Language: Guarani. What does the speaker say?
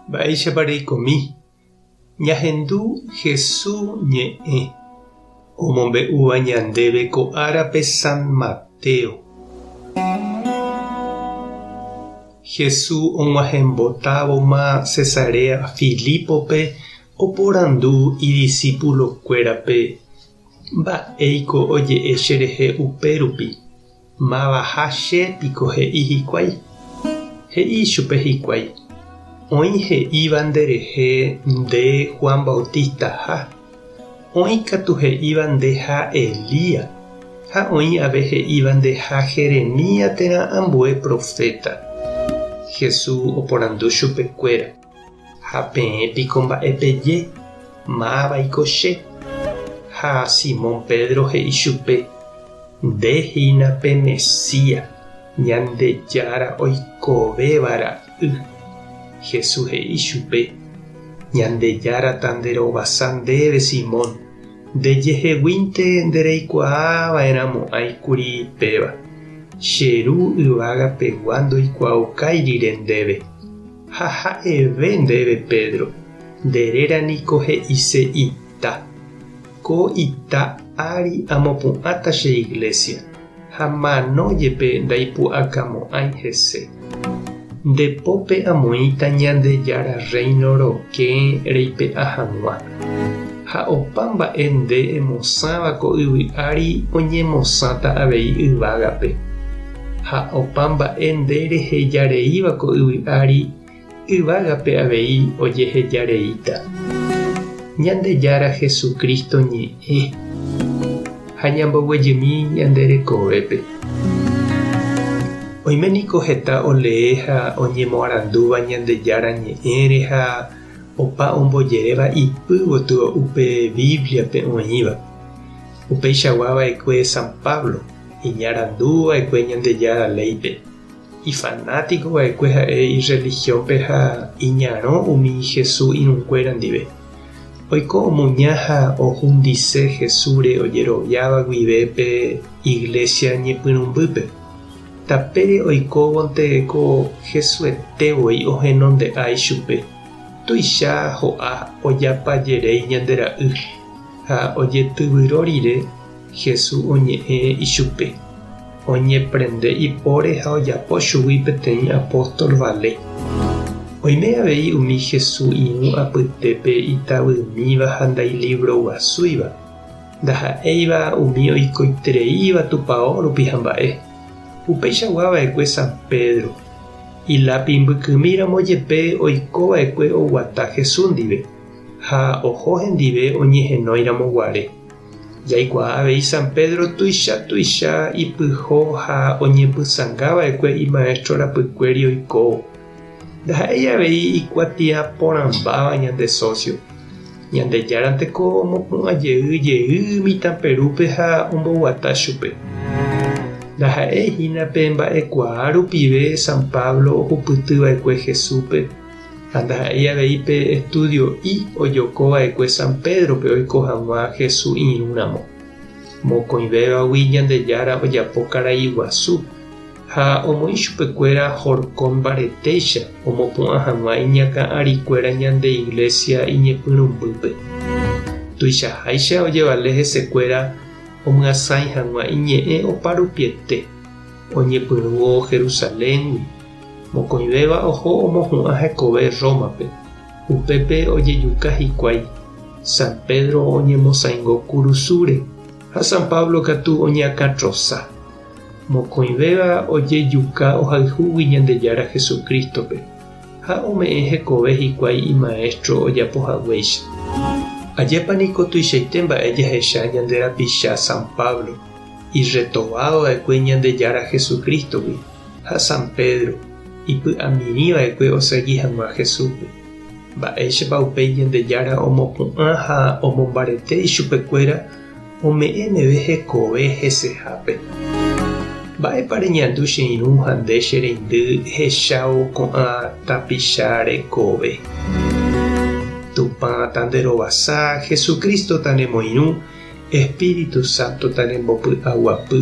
Mba'éichapa reikomi ñahendu Hesu ñe'ẽ omombe'úva ñandéve ko árape San Mateo. Hesu og̃uahẽmbotávoma Cesarea Filipope oporandu idisipulokuérape, Mba'éiko oje'e cherehe upérupi? Mávaha che piko he'i hikuái? He'i ichupe hikuái, Oĩ he'íva nderehe nde Juan Bautistaha, oĩ katu he'íva ndeha Elías, ha oĩ ave he'íva ndeha Jeremías térã ambue proféta. Jesús oporandu chupekuéra. Ha peẽ piko mba'e peje, Mávaiko che? Ha Simón Pedro he'i chupe, Nde hína pe Mesía, Ñandejára oikovéva ra'y. Jesús he'i chupe, Ñandejára ta nde rovasa ndéve, Simón, nde jeheguínte nde reikuaa va'erã mo'ãi kuri péva. Che Ru yvága pegua ndoikuaaukai rire ndéve. Ha ha'eve ndéve, Pedro, nde réra niko he'ise ita. Ko ita ári amopu'ãta che iglésia, ha mano jepe ndaipu'akamo'ãi hese. Nde pópe amoĩta Ñandejára Rréino rokẽ reipe'a hag̃ua. Ha opa mba'e nde emosãva ko yvy ári oñemosãta avei yvágape. ha opa mba'e nde reheja reíva ko yvy ári, yvágape avei ojeheja reíta. Ñandejára Jesucristo ñe'ẽ ha ñamboguejymi ñande rekovépe. Oime niko heta olee ha oñemoarandúva Ñandejára ñe'ẽre ha opa ombojeréva ipy gotyo upe Bíbliape oĩva. Upeichagua va'ekue San Pablo, iñarandu va'ekue Ñandejára léipe, ifanátiko va'ekue ha'e irrelihiónpe ha iñarõ umi Jesús irũnguéra ndive. Oiko omuña ha ohundise Jesúsre ojeroviáva guive pe iglésia ñepyrũmbýpe. Tapére oikóvonte ko Jesuete voi ohenonde'a ichupe, tuicha ho'a ojapa jeréi ñande ra'y ha ojetyvyro rire. Jesús oñe'ẽ ichupe, oñeprende ipóre ha ojapo chugui peteĩ apóstol vale. Oime avei umi Jesús irũ apytépe itavymíva ha ndailivroguasúiva, ndaha'éiva umi oikoitereíva Tupao rupi hamba'e. Upeichagua va'ekue San Pedro, ilápi mbykymi ramo jepe oiko va'ekue oguata Jesús ndive ha oho hendive oñehenói ramo guare. Jaikuaa avei San Pedro tuicha tuicha ipyho ha oñepysãnga va'ekue imaéstro rapykuéri oikóvo. Ndaha'éi avei ikuatia porãmbáva ñande sósio. Ñandejáranteko omopu'ã jey jey mitãperúpe ha omboguata chupe. Ndaha'éi hína pe mba'ekuaa rupive San Pablo ohupyty va'ekue Jesúspe. Ha ndaha'éi avei pe estúdio'i ojoko va'ekue San Pédrope oiko hag̃ua Jesús irũramo. Mokõivévagui Ñandejára ojapo karai guasu ha omoĩ chupekuéra horkon mbaretéicha omopu'ã hag̃ua iñakã'arikuéra ñande Iglésia iñepyrũmbýpe. Tuichaháicha ojevale hesekuéra omyasãi hag̃ua iñe'ẽ oparupiete oñepyrũvo Jerusaléngui. Mokõivéva oho omohu'ã hekove Rómape, upépe ojejuka hikuái. San Pedro oñemosaingo kurusúre ha San Pablo katu oñeakãtrosa. Mokõivéva ojejuka ohayhúgui Ñandejára Jesucrístope ha ome'ẽ hekove hikuái imaéstro ojapo haguéicha. Ajépa niko tuichaite mba'e jahecha ñande rapicha San Pablo irretovadova'ekue Ñandejára Jesucrístogui! ha San Pedro ipy'amimi va'ekue osegi hag̃ua Jesúspe. Mba'éichapa upéi Ñandejára omopu'ã ha omombarete ichupekuéra ome'ẽ meve hekove hesehápe? Mba'épa reñandu che irũ ha nde che reindy ehechávo ko'ã tapicha rekove? Tupãta nde rovasa, Jesucrístota nemoirũ, Espíritu Sántota nembopy'aguapy.